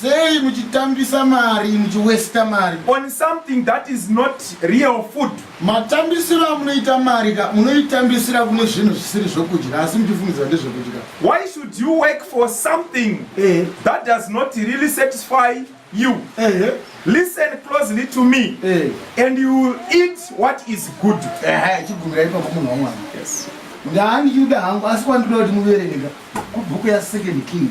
Sei muchitambisa mari muchi waster mari. On something that is not real food. Matambisiro amunoita mari ka munoitambisira kune zvinhu zvisiri zvokudya asi muchifungidzira ndezvekudya. Why should you work for something eh. that does not really satisfy you? Eh. Listen closely to me eh. and you will eat what is good. Eh, chigumira ipapo munhu wamwana. Yes. Ndaani yuda hangu asi kwandinoda kuti muverenge kubhuku ya second kings.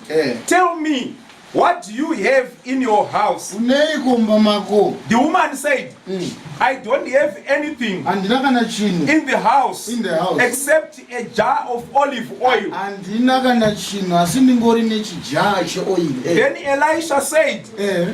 Eh. Tell me, what do you have in your house? Unei kumba mako? The woman said, mm. I don't have anything handina kana chinhu in the house in the house except a jar of olive oil handina kana chinhu asi ndingori nechijar cheoil eh. Then Elisha said, eh.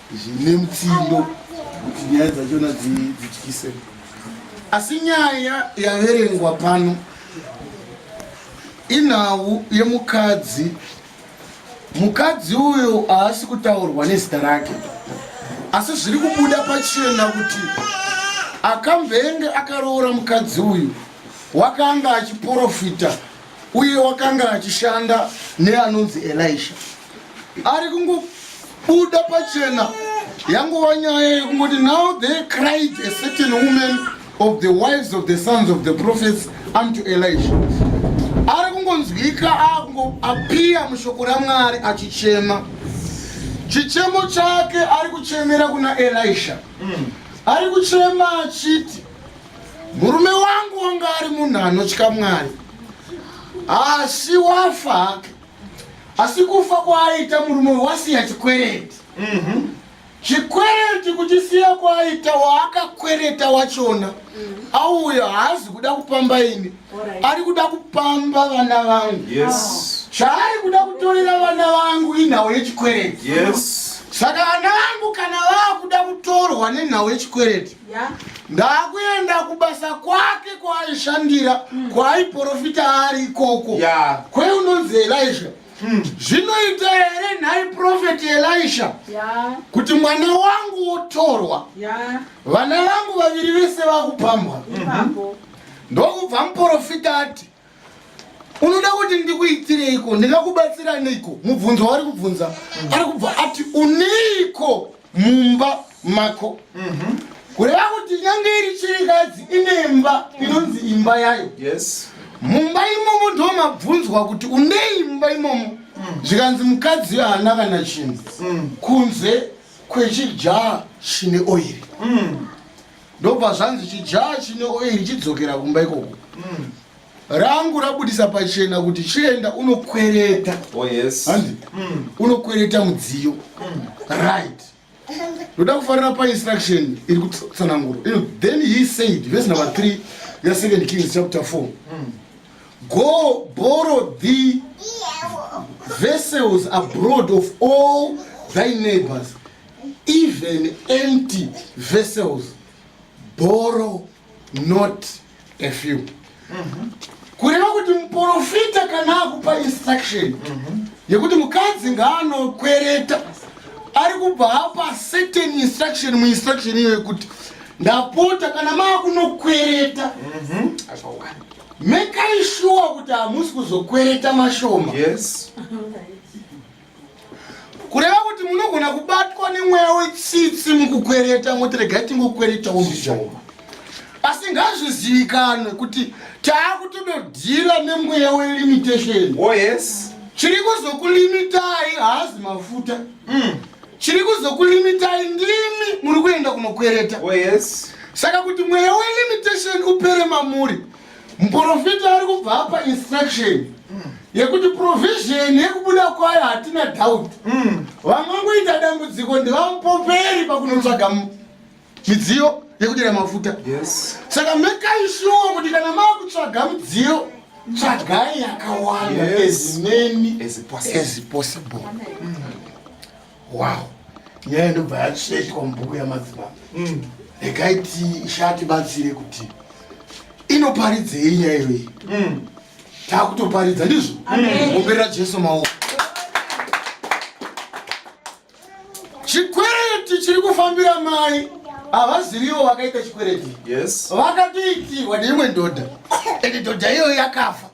zvine mutsindo kuti nyaya dzachona dzityise asi nyaya yaverengwa pano inhau yemukadzi mukadzi uyo haasi kutaurwa nezita rake asi zviri kubuda pachena kuti akambenge akaroora mukadzi uyu wakanga achiprofita uye wakanga achishanda neanonzi elisha ari kungobuda pachena yangova nyaya yekungoti now they cried a certain woman of the wives of the sons of the prophets unto elisha ari kungonzwika apiya mushoko ramwari achichema chichemo chake ari kuchemera kuna elisha mm. ari kuchema achiti murume wangu wanga ari munhu anotya mwari asi wafa hake asi kufa kwaaita murume wasiya chikwereti mhm. chikwereti kuchisiya kwaaita waakakwereta wachona mhm. auyo haazi kuda kupamba ini ari kuda kupamba vana vangu chaari kuda kutorera vana vangu inhau yechikwereti saka vana vangu kana vaakuda kutorwa nenhau yechikwereti ndakuenda kubasa kwake kwaaishandira mm. kwaaiprofita ari ikoko yeah. kwe unonzi elisha mm. zvinoita here nhai profeti elisha yeah. kuti mwana wangu wotorwa yeah. vana vangu vaviri vese vakupambwa mm -hmm. ndokubva muprofita ati unoda kuti ndikuitireiko ndingakubatsira neiko mubvunzo waari kubvunza ari kubva ati uneiko mumba mako mhm. kureva kuti nyange iri chirikadzi ine mba inonzi imba yayo mumba imomo ndo mabvunzwa kuti unei mumba imomo mm. zvikanzi mukadzi iyo haana kana chinhu mm. kunze kwechijaha chine oiri mm. ndobva zvanzi chijaya chine oiri chidzokera kumba ikoko mm. rangu rabudisa pachena kuti chienda unokwereta oh, yes. mm. unokwereta mudziyo mm. right ndoda kufarira painstruction iri kutsananguro ino then he said vese number 3 ya second kings chapter 4 mm. go borrow the vessels abroad of all thy neighbors even empty vessels borrow not a few mm -hmm. kureva kuti muprofita kana akupa instruction mm -hmm. yekuti mukadzi ngaanokwereta ari kubva apa certain instruction muinstruction iyo yekuti ndapota kana maakunokwereta mhm. mekai shuwa kuti hamusi kuzokwereta mashoma yes. kureva kuti munogona kubatwa nemweya wetsitsi mukukwereta moti regai tingokweretawo mishonga asi ngazvizivikanwe kuti taakutododhira nemweya welimitation oh, yes. chiri kuzokulimitai haazi mafuta mm. chiri kuzokulimitai ndimi muri kuenda kunokwereta oh, yes. saka kuti mweya welimitation upere mamuri mm. Muporofita ari kubva apa instruction yekuti provision yekubuda kwayo hatina doubt. Mm. Vangangoita dambudziko ndivamupoperi pakunotsvaga midziyo yekudira mafuta. Yes. Saka mekai sure kuti kana makutsvaga midziyo tsvagai yakawanda yes. as many as possible. As possible. Mm. wow nyaya ndobva yasvetwa mubhuku yamadzibaba mm. regai tishati batsire kuti inoparidzei nyaya iyoyi mm. takutoparidza ndizvo omberera jesu maoko chikwereti chiri kufambira mai havaziviwo vakaita chikwereti vakatoitirwa neimwe ndodha ende ndodha iyoyo yakafa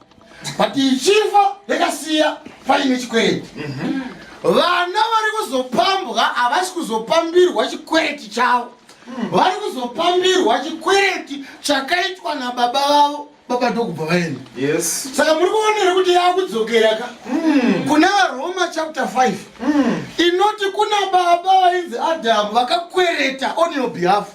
but ichifa yakasiya paine chikwereti mhm. vana vari kuzopambwa havasi kuzopambirwa chikwereti chavo hmm. vari kuzopambirwa chikwereti chakaitwa nababa vavo baba ndokubva vaenda saka muri kuonere kuti yakudzokera ka hmm. kuna varoma chapter 5 hmm. inoti kuna baba vainzi adamu vakakwereta on your behalf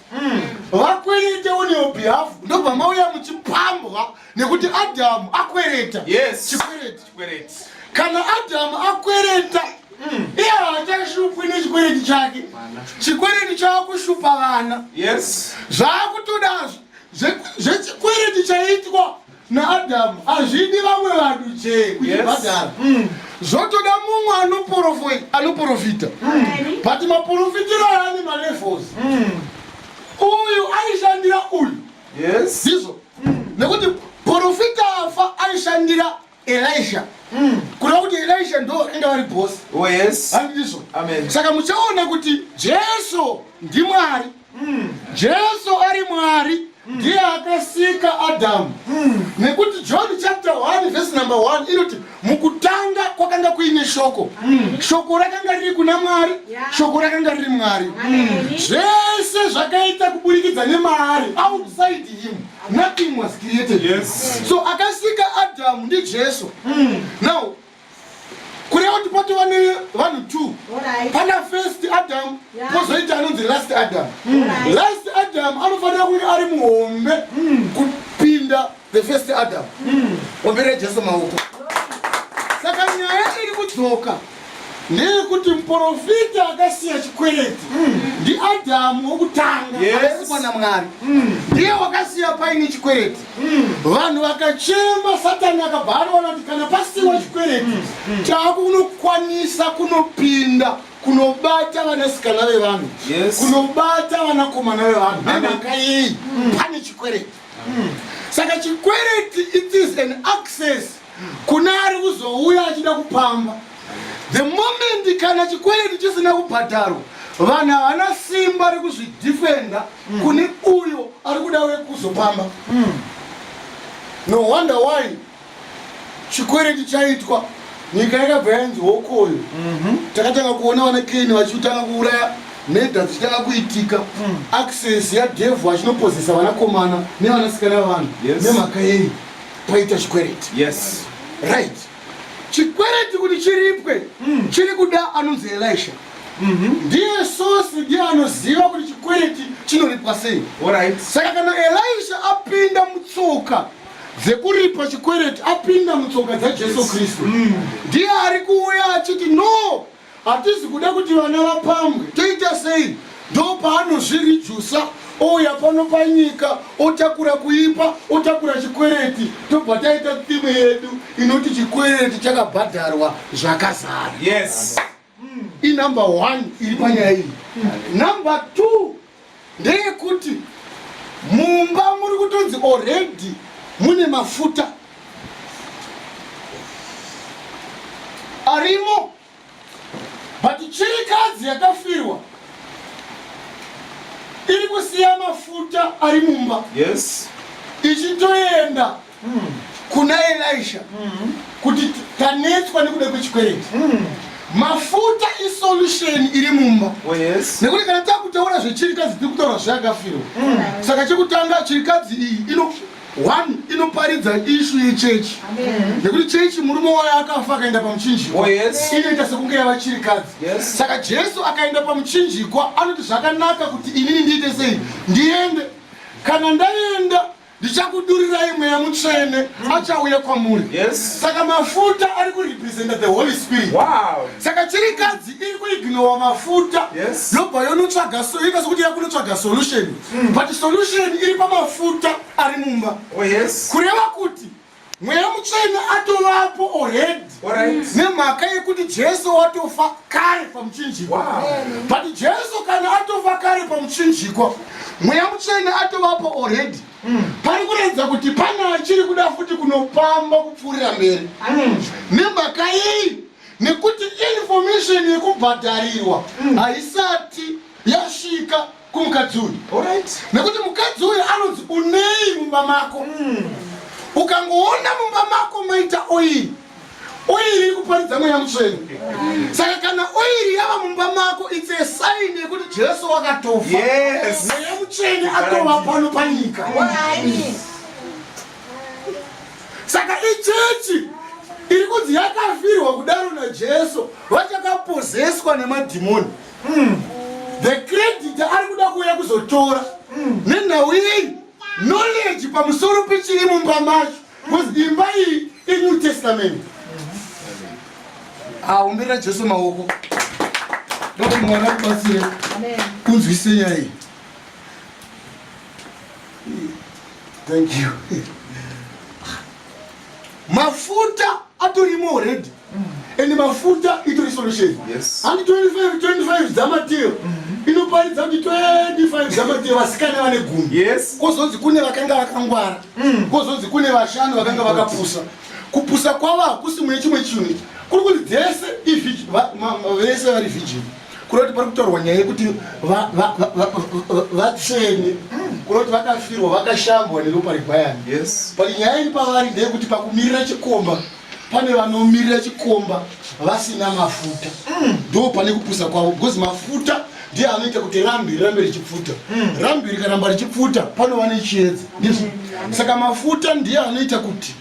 vakwerete on your behalf ndobva mauya muchipambwa nekuti adhamu akwereta yes. chikwereti chikwereti kana adhamu akwereta mm. iye haachashupwi nechikwereti chake chikwereti chaakushupa vana yes. zvaakutodazvo zvechikwereti chaitwa naadhamu hazvidi vamwe vanhu jee kuchibhadhara yes. mm zvotoda mumwe anoprofita mm. but maprofitiro aani malevels mm. uyu aishandira uyu yes ndizvo mm. nekuti profita afa aishandira elisha mm. kureva kuti elisha ndo inga vari bosi oh, yes. andizvo saka muchaona kuti jesu ndimwari mm. jesu ari mwari mm. ndiye akasika adamu mm. nekuti john chapter 1 vhesi number 1 inoti mukutanga kwakanga kuine shoko mm. shoko rakanga riri kuna mwari yeah. shoko rakanga riri mwari mm. zvese zvakaita kuburikidza nemaari outside him nothing was created yes. so akasika adamu ndijesu mm. now kureva kuti patova nevanhu two right. pana first adamu pozoita yeah. anonzi last adamu mm. right. last adamu anofanira kunge ari muhombe mm. kupinda the first adam mm. ombere jesu maoko saka nyaya iri kudzoka neyekuti muprofita akasiya chikwereti mm. ndiadhamu wokutanga asikwa namwari mm. ndiye wakasiya paine chikwereti mm. vanhu vakachema satani akabva anoona kuti kana pasiwa chikwereti chakunokwanisa kunopinda kunobata vanasikana vevanhu kunobata vanakomana vevanhu nemhaka yei pane chikwereti saka chikwereti it is an access kune ari kuzouya achida kupamba the moment kana chikwereti chisina kubhadharwa vanhu havana simba rekuzvidefenda mm. kune uyo ari kuda wekuzopamba mm. no wonder why chikwereti chaitwa nyika yakabva yanzi hokoyo mhm. takatanga kuona vana keni vachitanga kuuraya meda dzichitanga kuitika mm. access yadevhu achinopozesa vanakomana nevanasikana vanhu nemhaka yei paita chikwereti right chikwereti kuti chiripwe mm. chiri kuda anonzi elisha mhm. ndiye sosi ndiye anoziva kuti chikwereti chinoripwa sei saka kana elisha apinda mutsoka dzekuripa chikwereti apinda mutsoka dzajesu kristu mm. ndiye mm. ari kuuya achiti no hatizi kuda kuti vana vapambwe toita sei ndo paanozvirijusa ouya pano panyika otakura kuipa otakura chikwereti tobva taita time yedu inoti chikwereti chakabhadharwa zvakazara yes. i number one iri panyaya iyi number two ndeyekuti mumba muri kutonzi already mune mafuta arimo but chirikadzi yakafirwa iri kusiya mafuta ari mumba yes ichitoenda kuna Elisha kuti tanetswa nekuda kwechikwereti mafuta isolution iri mumba oh, nekuti kana takutaura zvechirikadzi tiri kutaura zvayakafirwa saka chekutanga chirikadzi iyi ino one inoparidza ishu yechechi nekuti chechi murume wayo akafa akaenda pamuchinjikwa oh, inoita sekunge yava chirikadzi saka jesu akaenda pamuchinjikwa anoti zvakanaka kuti inini ndiite sei ndiende kana ndaenda ndichakudurirai mweya mutsvene mm. achauya kwamuri yes. saka mafuta ari kurepresenta the holy spirit wow. saka chirikadzi iri kuignowa mafuta yes. yobva yonotsvaga ita sokuti yakunotsvaga solution mm. but solution iri pamafuta ari mumba oh, yes. kureva kuti mweya mutsvene atovapo already nemhaka yekuti jesu watofa kare pamuchinjikwa but jesu kana atofa kare pamuchinjikwa mweya mutsvene atovapo already mm. pari kuratidza kuti pane achiri kuda futi kunopamba kupfuurira mberi mm. nemhaka iyi nekuti information yekubhadharirwa mm. haisati yasvika kumukadzi uyu nekuti mukadzi uyu anonzi unei mumba mako hmm. ukangoona mumba mako maita oiri oiri ikuparidza mweya mutsvene saka kana oiri yava mumba mako its a sign yekuti jesu wakatofa mweya mutsvene atova pano panyika saka ichechi iri kunzi yakafirwa kudaro najesu vachakapozeswa nemadhimoni mm. the credit ari kuda kuuya kuzotora mm. nenhau yei knowledge pamusoro pechiri mumba macho bcause mm. imba iyi inew testament aumbirira mm. jesu maoko ndokuti mwana kubatsire kunzwise nyaya iyi thank you mafuta atorimo already and mafuta itori solution handi 25 25 dzamatiro mm-hmm. inoparidza kuti 25 dzamatiro vasikana vane gumi kozonzi kune vakanga vakangwara mm. kozonzi kune vashanu vakanga vakapusa kupusa kwavo hakusi mune chimwe chinhu kuri kuti dzese vese vari vijini kuri kuti pari kutaurwa nyaya yekuti vatsvene kuri kuti vakafirwa vakashambwa neropa regwayana but nyaya iri pavari ndeyekuti pakumirira chikomba pane vanomirira chikomba vasina mafuta mm. ndo pane kupusa kwavo because mafuta ndiye anoita kuti rambi rirambe richipfuta mm. rambi rikaramba richipfuta panova nechiedza ndizvo mm. saka mafuta ndiye anoita kuti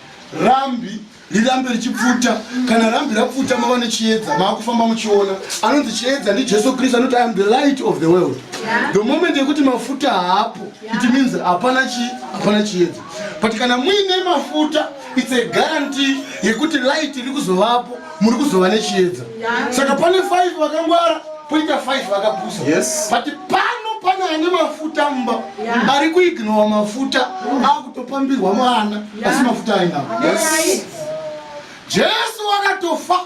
rambi rirambe richipfuta kana rambi rapfuta mava nechiedza maakufamba muchiona anonzi chiedza ndijesu kristu anoti iam the light of the world the moment yekuti mafuta haapo it means hapana chi hapana chiedza but kana muine mafuta It's a guarantee yekuti light iri kuzovapo muri kuzova nechiedza saka pane 5 vakangwara poita 5 vakapusa yes. but pano pane ane mafuta mumba yeah. ari kuignora mafuta akutopambirwa mwana asi mafuta ainawo yes. jesu wakatofa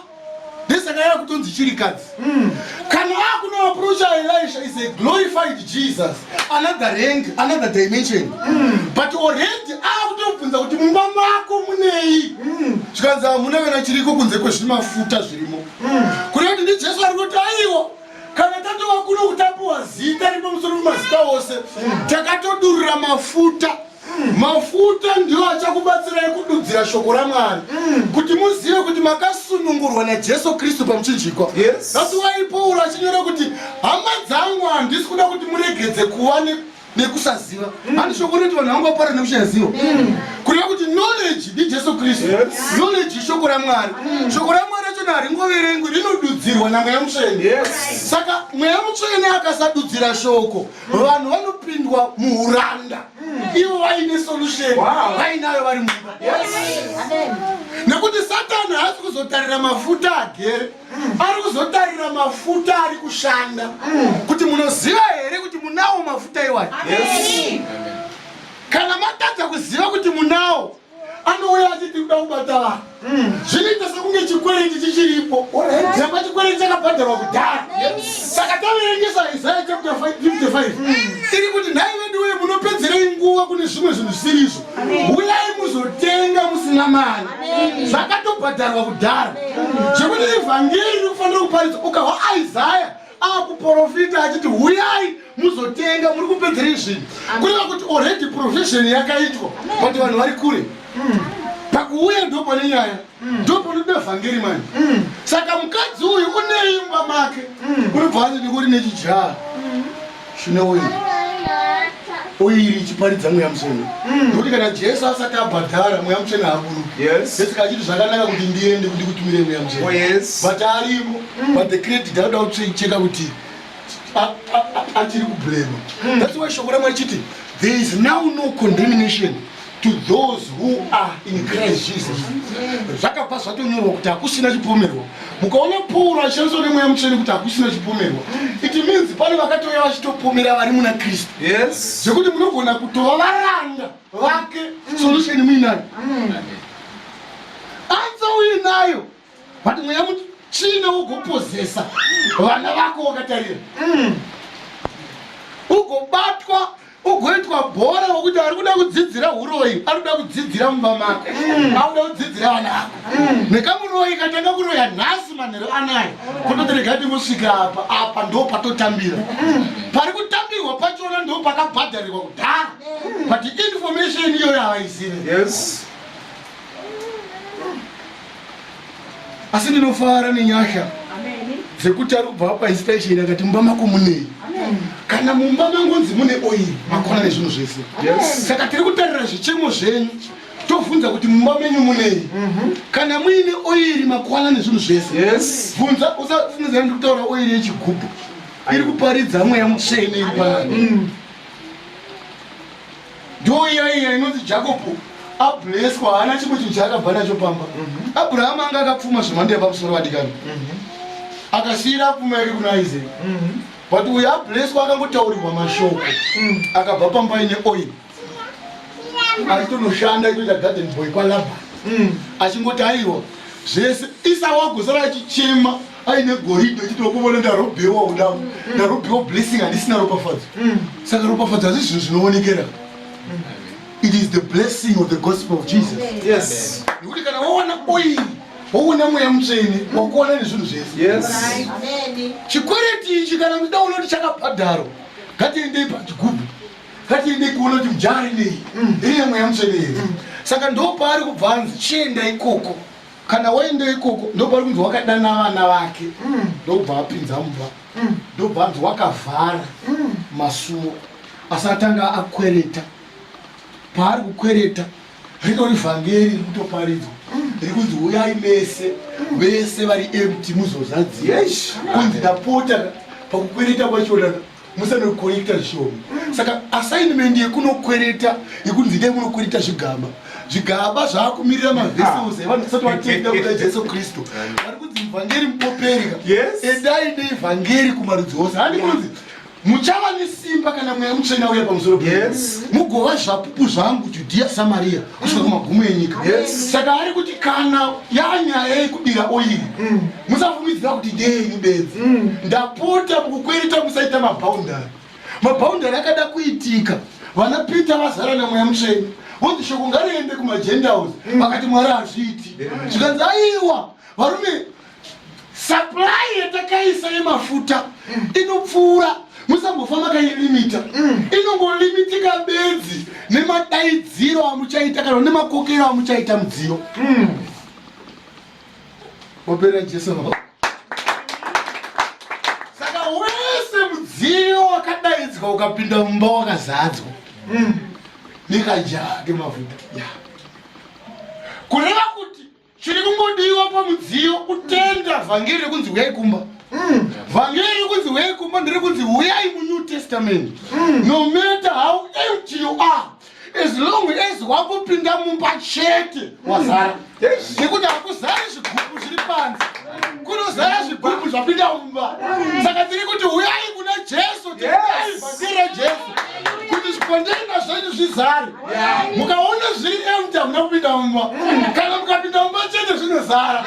ndesaka yava kutonzi chirikadzi mm. kana akunoaprocha elisha is a glorified jesus another rank another dimension mm. but already akutobvunza kuti mumba mako munei mm. zvikanzi hamuna kana chiriko kunze kwezvimafuta zvirimo kune kuti ndi jesu ari kuti aiwa kana tatovakuno kutapiwa zita ripo musoro mumazita ose takatodurura mafuta Mm. Mafuta ndiwo achakubatsirai kududzira shoko raMwari mm. kuti muzive kuti makasunungurwa naJesu Kristu pamuchinjikwa. Yes. That's why Paul achinyora kuti hama dzangu handisi kuda kuti muregedze kuva ne nekusaziva mm. handi shoko rinoiti vanhu vangu vapara nekusaziva mm. kureva kuti knowledge ndijesu kristu knowledge ishoko ramwari mm. shoko ramwari rachona haringoverengwi rinodudzirwa namweya mutsvene saka mweya mutsvene akasadudzira shoko vanhu vanopindwa muuranda ivo vaine solution vainayo vari mumba nekuti satani haasi kuzotarira mafuta agere ari kuzotarira mafuta ari kushanda kuti munoziva here kuti munawo mafuta iwayo kana matadza kuziva kuti munawo anouya achiti kuda kubata vanhu mm. zvinoita sekunge chikwereti chichiripo zamba chikwereti chakabhadharwa kudhara saka taverengesa isaya chapter 55 mm. iri kuti nhai vedu wee munopedzerei nguva kune zvimwe zvinhu zvisirizvo uyai muzotenga musina mari zvakatobhadharwa kudhara zvekuti evhangeri riri kufanira kuparidzwa ukahwa isaya akuporofita achiti huyai muzotenga muri kupedzerei zvinhu kureva kuti already profession yakaitwa but vanhu vari kure mm. pakuuya ndo pane nyaya mm. ndo panoda vhangeri mani mm. saka mukadzi uyu uneimba make unobva anzi ndikuri nechijaha Shune uyu oiri ichiparidza mweya mutsvene mm. nokuti kana jesu asati abhadhara mweya mutsvene haaburueseka achiti zvakanaka kuti ndiende kuti kutumire mweya mutsvene oh, but arimo mm. but the credit anoda kucheka kuti achiri kublema mm. that's why shoko ramwe achiti there is now no condemnation to those who are in Christ Jesus zvakabva zvatonyorwa kuti hakusina chipomerwa mukaona pauro achishandiswa nemweya mutsvene kuti hakusina chipomerwa it means pane vakatouya vachitopomera vari muna kristu zvekuti munogona kutova varanda vake solution muinani anza uinayo but mweya mutsvina wogopozesa vana vako wakatarira mm. ugobatwa ugoitwa bhora wokuti ari kuda kudzidzira uroyi ari kuda kudzidzira mumba mako mm. akuda kudzidzira vana vako mm. nekamuroyi katanga kuroya nhasi manhero anayo kutoterega ti musvika apa apa ndo patotambira pari kutambirwa pachona ndo pakabhadharirwa kudhara but information iyoyo havaizive yes. asi ndinofara nenyasha dzekuti ari kubva apa inspiration akati mumba mako munei kana mumba mangonzi mune oiri makona nezvinhu zvese saka tiri kutarira zvichemo zvenyu tobvunza kuti mumba menyu munei mhm. kana muine oiri makwana nezvinhu zvese bvunza usafungidzira ndi kutaura oiri yechigubhu iri kuparidza mweya mutsvene iri paani mm. ndiwo iya iya inonzi jakobo ableswa haana chimwe chinhu chaakabva nacho pamba mhm. abrahama anga akapfuma zvemhando yepamusoro vadikani mhm. akasiyira apfuma yake kuna isaac mhm. but uyo ableswa akangotaurirwa mashoko mm. akabva pamba ine oil aitonoshanda itoita garden boy kwalaba mm. achingoti aiwa zvese isawakusara achichema aine goridhe uchitokuvona ndarobhewa uda mm. ndarobhewa blessing handisina ropafadzo mm. saka ropafadzo hazvi zvinhu zvinoonekera mm. it is the blessing of the gospel of jesus yes nekuti kana wawana oil waona mweya mutsvene wakuona nezvinhu zvese chikwereti ichi kana kuda uona kuti chakabhadharo ngatiendei pachigubhu ngatiendei kuona kuti mujari nei ine mweya mutsvene here saka ndopaari kubva anzi chienda ikoko kana waenda ikoko ndopari kunzi wakadana vana vake mm. ndobva mm. apinza mumba mm. ndobva anzi wakavhara mm. masuwo asi atanga akwereta paari kukwereta ritori vhangeri riri kutoparidzwa mm. riri kunzi uyai mese mm. vese vari empty muzozadzia kunzi ndapota pakukwereta kwachona musanokorekta zvishoma saka assignment yekunokwereta yekunzi dai munokwereta zvigaba zvigaba zvaakumirira mavesels ah. evanhu tisati vatenda kuda jesu kristu vari kunzi mvhangeri mupopereka edai neivhangeri kumarudzi ose handi kunzi muchava nesimba kana mweya mutsvena uya pamusoro mugova zvapupu zvangu judhiya samariya kusvika kumagumo enyika saka ari kuti kana yanyaya yekubira oiri mm. musafumidzira kuti ndeyenyu bedzi mm. ndapota mukukwereta musaita mabhaundari mabhaundari akada kuitika vana peter vazara namweya mutsveni vonzi shoko ngariende kumagendaus mm. vakati mwari hazviiti zvikanzi aiwa varume supply yatakaisa yemafuta mm. inopfuura musambofa makailimita mm. inongolimitika bedzi nemadaidziro amuchaita kana nemakokero amuchaita mudziyo mm. opera jesu saka wese mudziyo wakadaidzwa ukapinda mumba wakazadzwa mm. nekajaa kemafuta yeah. chiri kungodiwa pamudziyo kutenda vhangeri rekunzi huyai kumba mm. vhangeri rekunzi huyai kumba ndiri kunzi huyai munew testament mm. no matter how empty you are as long as wakupinda mumba chete mm. wazara nekuti hakuzari zvigubu zviri panze kunozara zvigubu zvapinda mumba saka tiri kuti huyai kuna jesu tiai vhangeri rajesu kuti zvikondenga zvenyu zvizare mukaona zviri empty hamuna kupinda mumba mm. kana mukapinda mumba chete zvinozara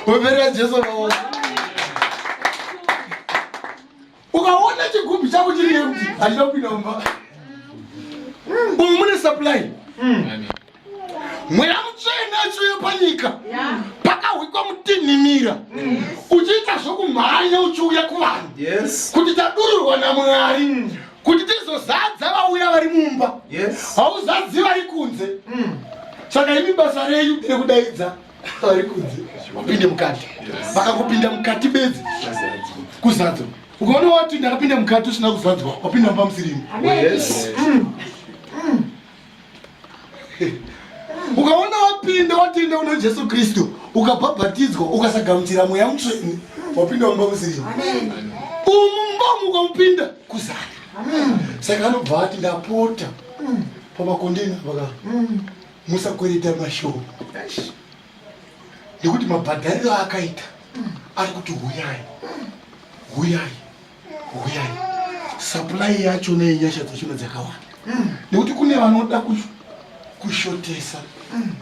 operera jesu maoko ukaona chigubhu chako chiri empty handina kupinda mumba umu mune supply mm. mweya mutsvene achiuya panyika pakahwikwa mutinhimira mm. uchiita zvokumhanya uchiuya kuvanhu kuti tadururwa namwari mm. kuti tizozadza vauya vari mumba hauzadzi vari kunze mm. saka imi basa renyu rekudaidza vari kunze upinde mukati vakakupinda mukati bedzi kuzadzwa ukaona wati ndakapinda mukati usina kuzadzwa wapinda mumba musirimu ukaona wapinda watenda una jesu kristu ukabhabhatidzwa ukasagamuchira mweya mutsveni wapinda mumba musiri umumba mukamupinda kuzana saka anobva ati ndapota pamakondeni apaka musakwereta mashoma nekuti mabhadhariro akaita ari kuti huyai huyai huyai supply yacho neyenyasha dzachona dzakawanda mm. nekuti kune vanoda kushotesa mm.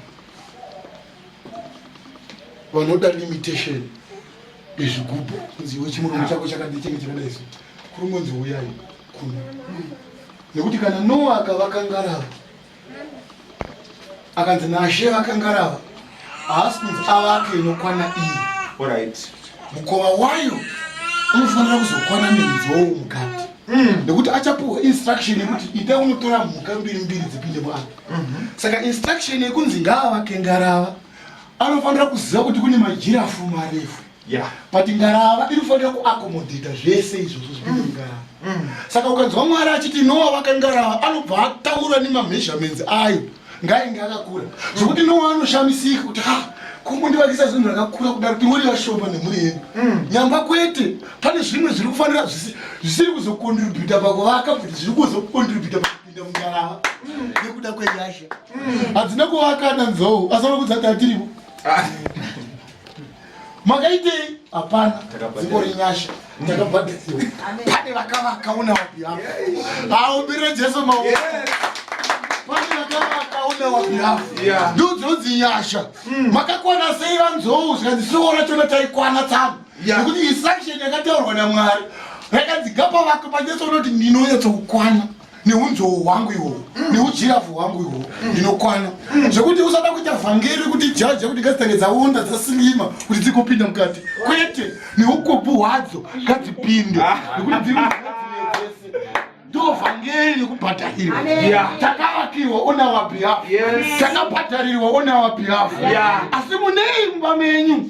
vanoda limitation yezvigubhu kunzi iwe chimuromo chako chakadii chenge chakadai so kuri ngonzi huyai kuno mm. nekuti kana noa akavakangarava akanzi nashe vakangarava haasi kunzi avake inokwana iyi orit mukova wayo unofanira kuzokwana nenzou mukati hmm. nekuti mm. achapiwa instruction yekuti ita unotora mhuka mbiri mbiri dzipinde mwana mm -hmm. saka instruction yekunzi ngaavake ngarava anofanira kuziva kuti kune majirafu marefu Yeah. But ngarava inofanira kuakomodhita zvese izvozvo zviri mm. ngarava. Mm. Saka ukanzwa Mwari achiti Noa vaka ngarava anobva ataura nemameasurements ayo ngainge akakura zvokuti mm. Noa anoshamisika kuti ha ah, kumundivakisa zvinhu zvakakura kudaro kuti muri vashoma nemhuri yedu mm. nyamba kwete pane zvimwe zviri kufanira zvisiri kuzokontributa pakuvaka kuti zviri kuzokontributa pakupinda mungarava mm. nekuda kwenyasha mm. hadzina kuvaka nanzou asana kudzati atiripo ah. makaitei hapana dziko renyasha takabhadhasiwa pane vakavakaona wapi hapo haumbire jesu maoko pane vakavakaona wapi hapo ndodzinonzi nyasha hmm. makakwana sei vanzou zvikanzi siona chona taikwana tsamu nekuti isaction yakataurwa namwari yakanzi gapa vako pajesu unoti ndinonyatsoukwana neunzou hwangu ihwohwo mm. neujirafu hwangu ihwohwo mm. ndinokwana mm. zvekuti usada kuita vhangeri kuti jaja kuti ngazitange dzaonda dzasilima kuti dzigopinda mukati kwete neukopu hwadzo ngadzipinde ah. nekuti ndovhangeri nekubhadharirwa takavakirwa ona wabihafu takabhadharirwa ona wabihafu asi munei mumba menyu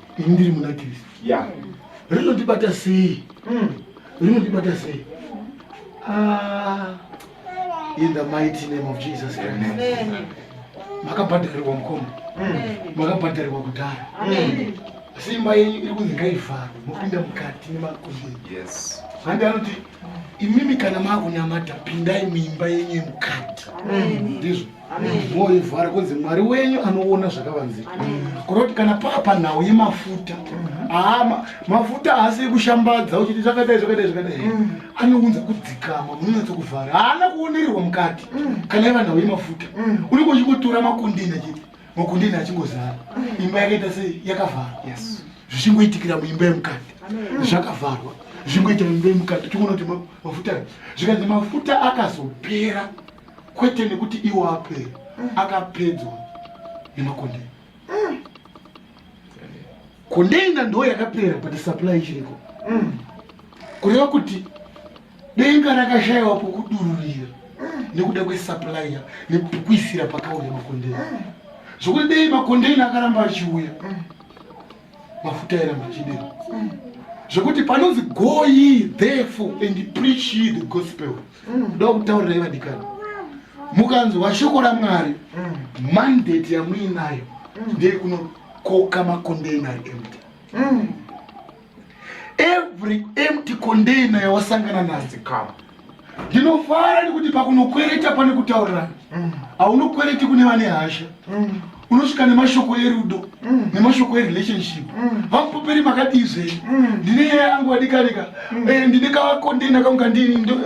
ini ndiri muna kristu yeah. rinondibata sei mm. rinondibata sei ah, in the mighty name of jesus christ makabhadharirwa mukoma mm. makabhadharirwa kudhara mm. simba yenyu iri kunzi ngaivharwe mopinda mukati nemakumbeni yes. handi anoti imimi kana maakunamata pindai muimba yenyu yemukati ndizvo mm. moivhara kunzi mwari wenyu anoona zvakavanzika kunoti kana papa nhau yemafuta ama mafuta haasi ekushambadza uchiti zvakadai zvakadai zvakadai mm. anounza kudzikama munonatsa kuvhara haana kuonererwa mukati mm. kana iva nhau yemafuta mm. unenge uchingotora makundina chete makundina achingozara imba yakaita sei yakavharwa zvichingoitikira muimba yemukati zvakavharwa zvichingoita muimba yemukati uchingoona kuti mafuta zvikanzi mafuta akazopera kwete nekuti iwo apere mm. akapedzwa nemakondeni mm. kondeina ndo yakapera but supply ichiriko mm. kureva kuti denga rakashayiwa pokudururira nekuda kwesuplya nekuisira pakauya makondeni zvokuti dei makondeni akaramba achiuya mafuta era machidero mm. zvekuti panonzi go ye therefore and preach ye the gospel mm. kuda kutaurirai vadikani mukanzwa shoko ramwari mm. mandate yamuinayo ndeyekunokoka makondeina empty every empty condaina yawasangana nazi kama ndinofara nekuti pakunokwereta pane kutaurirana mm. haunokwereti kune vane hasha mm. unosvika nemashoko erudo mm. nemashoko erelationship vamupoperi makadii zvenyu ndine nyaya yangu vadikanika eh, ndine kakondeina kangu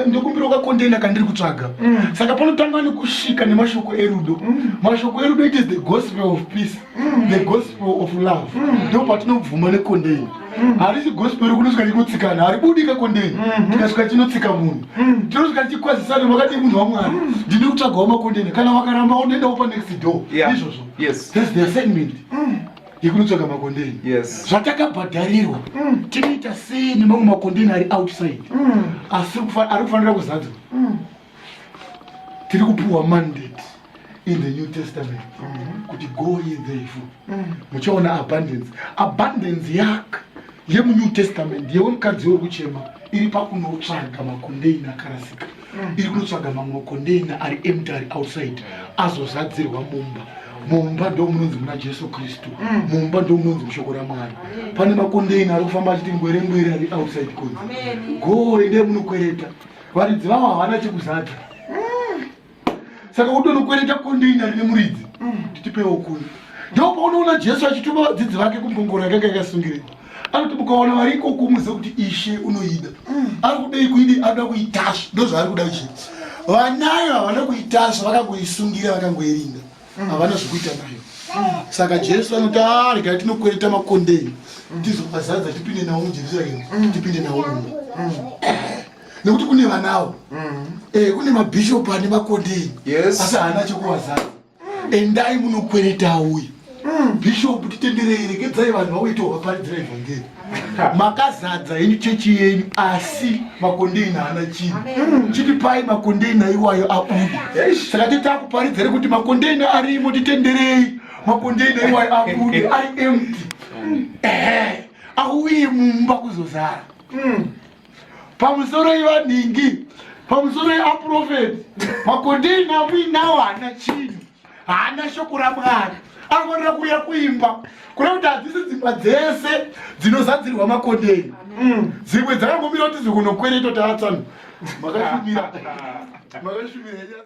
ndikumbirawo kakondeina kandiri kutsvaga saka panotanga nekusvika nemashoko erudo mashoko erudo it is the gospel of peace mm. the gospel of love mm. ndo patinobvuma nekondeni mm. harisi gospel rekunosvika richikutsikana haribudi kakondeni mm-hmm. tikasvika chinotsika munhu tinosvika tichikwazisana makadii munhu wamwari ndine kutsvagawo makondeni kana wakaramba unoendawo panext door izvozvo thats the assignment yekunotsvaga makondeni zvatakabhadharirwa tinoita sei nemamwe makondeni ari outside ari kufanira kuzadzwa tiri kupiwa mandate in the new testament mm-hmm. kuti go ye therefore mm. muchaona abundance abundance yak yemunew testament yewemukadzi wekuchema iri pakunotsvaga makondeina akarasika mm. iri kunotsvaga mamwe makondeina ari emty ari outside azozadzirwa mumba mumba ndo munonzi muna jesu kristu mm. mumba ndo munonzi mushoko ramwari pane makondeina ari kufamba achiti ngwere ngwere ari outside kunzi go ende munokwereta Varidzi vavo havana chekuzadza. Mm. Saka utonokwereta konde inyari nemuridzi. Mm. Titipewo kunhu. Ndipo paunoona Jesu achituma vadzidzi vake kumbongoro yakanga yakasungirira. Anoti mukaona vari ikoko muzive kuti ishe unoida. Mm. Ari kudei kuidi anoda kuitasva. Ndozvaari kuda kuchii. Vanayo havana kuitasva vakangoisungira vakangoirinda. havana zvekuita nayo saka jesu anoti arega ah, tinokwereta makondeni tizovazadza tipinde nawo mujerusaremu tipinde nawo muno nekuti kune vanawo eh, kune mabhishopu ane makondeni asi haana chekuvazadza endai munokwereta uye bhishopu titenderei regedzai vanhu vakuitawo vaparidzira evhangeri makazadza henyu chechi yenyu asi makondeina haana chinhu hmm. chiti pai makondeina iwayo abuda saka titakuparidza re kuti makondeina arimo titenderei makondeina iwayo abude ari empty hmm. ehe auye mumba kuzozara hmm. pamusoro ivanhingi pamusoro yeaprofeti makondeni amuinawo haana chinhu haana shoko ramwari anofanira kuuya kuimba kune kuti hadzisi dzimba dzese dzinozadzirwa makondeni mm. dzimwe dzakangomira kuti zvikunokwereta taatsan makashumira makashumira